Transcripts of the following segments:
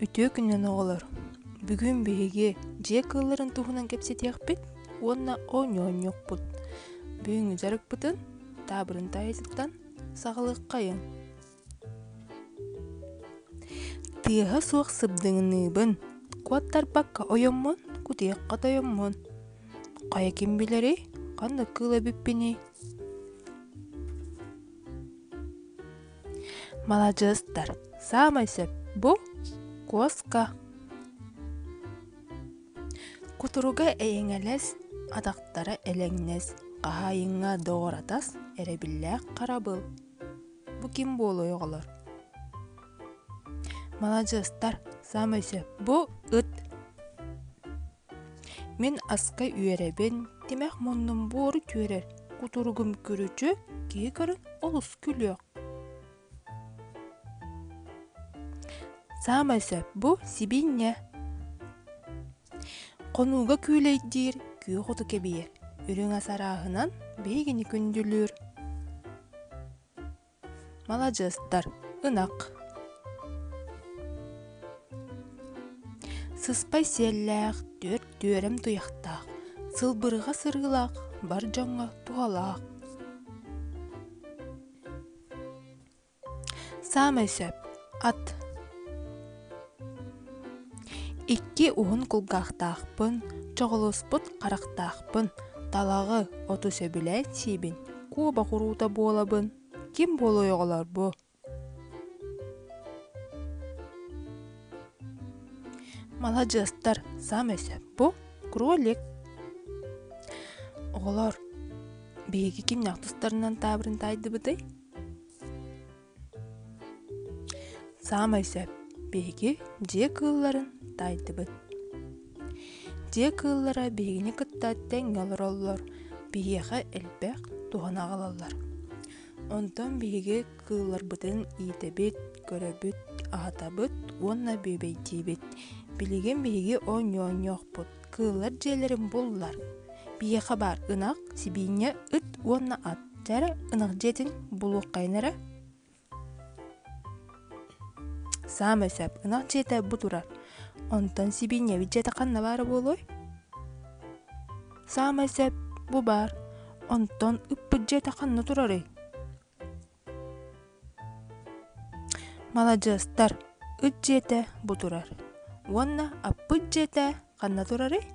Үтүө күннэн оҕолор! Бүгүн биһиги дьиэ кыылларын туһунан кэпсэтиэхпит уонна оонньоонньуохпут. Бүгүҥҥү дьарыкпытын таабырын таайытыттан саҕалыаххайыҥ. Тыаһа суох сыбдыҥныыбын, куоттарбакка ойоммун, кутуйахха тойоммун. Хайа ким билэрий, ханнык кыыл эбиппиний? маладьыастар саамай сөп бу куоска кутуруга эйэҥэлэс атахтара элэҥнэс хаһаайынга доҕоратас эрэбиллээх харабыл бу ким буолуой оҕолор маладьыастар саамай сөп бу ыт Мин аска үөрэбин, тимэх муннум буору түөрэр, кутуругум күрүчү, киһи көрү олус күлүөх. Саамай сөп бу сибиинньэ. Хонууга күүлэйдиир, күөх оту кэбийэр, үрүҥ ас арааһынан биһигини күндүлүүр. маладьыастар ынах сыспай сиэллээх түөрт түөрэм туйахтаах сылбырҕа сырыылаах бар дьоҥҥо туһалаах саамай сөп ат икки уһун кулгаахтаахпын чоҕулуспут харахтаахпын талаҕы оту сөбүлээн сиибин куобах уруута буолабын ким буолуой оҕолор бу маладьыастар саамай сөп бу кролик оҕолор биһиги ким ньахтыстарынан таабырын таайдыбытый Саамай сөп биһиги дьиэ кыылларын тайдыбыт. Дьиэ кыыллара биһигини кытта тэҥҥэ олороллор, биһиэхэ элбэх туһаны аҕалаллар. Онтон биһиги кыылларбытын иитэбит, көрөбүт, аһатабыт уонна бүөбэйдиибит. Билигин биһиги оонньоонньуохпут, кыыллар дьиэлэрин буллар. Биэхэ баар ынах, сибиинньэ, ыт уонна ат. Дьара ынах дьиэтин булуоххайын эрэ. Саамай сөп ынах дьиэтэ бу турар. Онтон сибиинньэбит дьиэтэ ханна баара буолуой? Саамай сөп бу баар. Онтон ыппыт дьиэтэ ханна турарый? Маладьыастар! Үт дьиэтэ бу турар. Уонна аппыт дьиэтэ ханна турарый?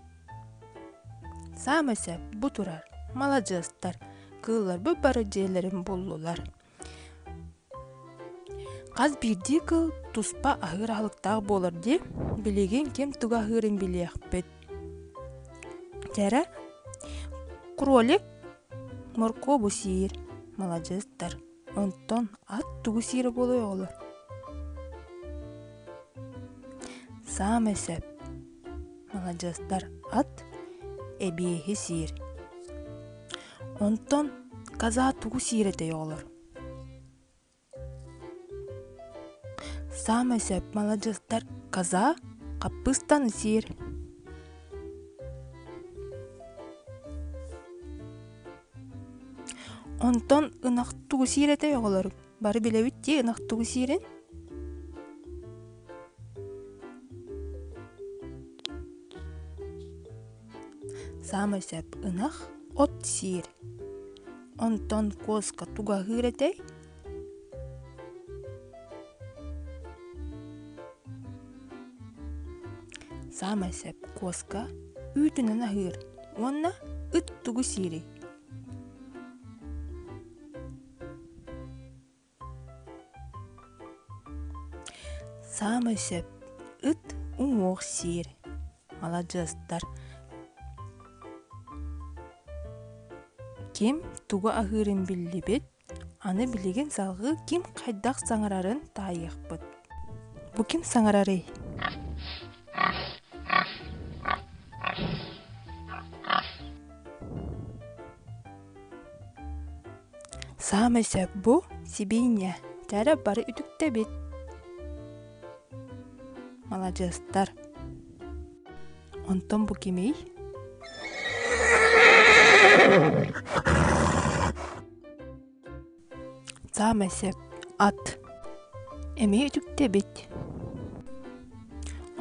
Саамай сөп бу турар. Маладьыастар! Кыылларбыт бары дьиэлэрин буллулар. Хас биирдии кыыл туспа аһыыр аһылыктаах буолар дии. Билигин ким тугу аһыырын билиэхпит. Кэрэ, кролик моркуобу сиир маладьыастар онтон ат тугу сиирэ буолуой оҕолор саамай сөп маладьыастар ат эбиэһи сиир онтон каза тугу сиир этэй оҕолор саамай сөп маладьыастар коза хаппыыстаны сиир онтон ынах тугу сиир этэй оҕолор бары билэбит дии ынах тугу сиирин Саамай сөп ынах от сиир. Онтон куоска тугаһыыр этэй. Саамай сөп куоска үүтүнэн аһыыр уонна ыт тугу сиирий? Саамай сөп ыт уҥуох сиир маладьыастар ким тугу аһыырын биллибит аны билигин салгыы ким хайдах саҥарарын таайыахпыт бу ким саҥарарый Саамай сөп бу сибиинньэ кэрэ бары үтүктэбит маладьыастар онтон бу кимий саамай сөп ат эмиэ үтүктэбит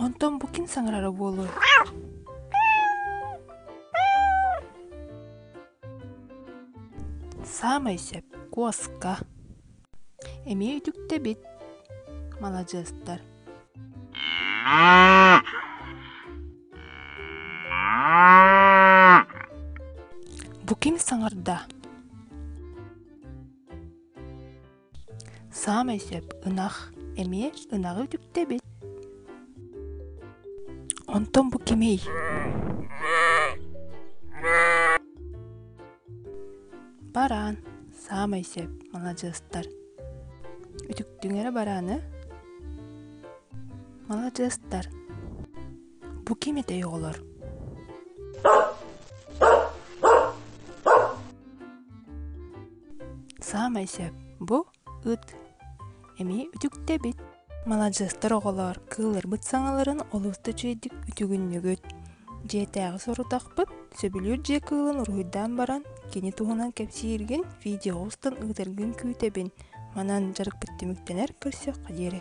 онтон бу ким саҥарара буолуой саамай сөп куоска эмиэ үтүктэбит маладьыастар Бу ким саҥарда? Саамай сөп ынах эмиэ ынаҕы үтүктэбит. Онтон бу кимий? бараан саамай сөп маладьыастар үтүктүҥ эрэ барааны маладьыастар бу ким этэй оҕолор саамай сөп бу ыт эмиэ үтүктэбит маладьыастар оҕолоор кыылларбыт саҥаларын олус да үчүгэйдик үтүгүннүгүт дьиэтээҕи сорудахпыт сөбүлүүр дьиэ кыылын уруһуйдаан баран кини туһунан кэпсииргин видеоҕа устан ыытаргын күүтэбин манан дьарыкпыт түмүктэнэр көрсүөххэ диэри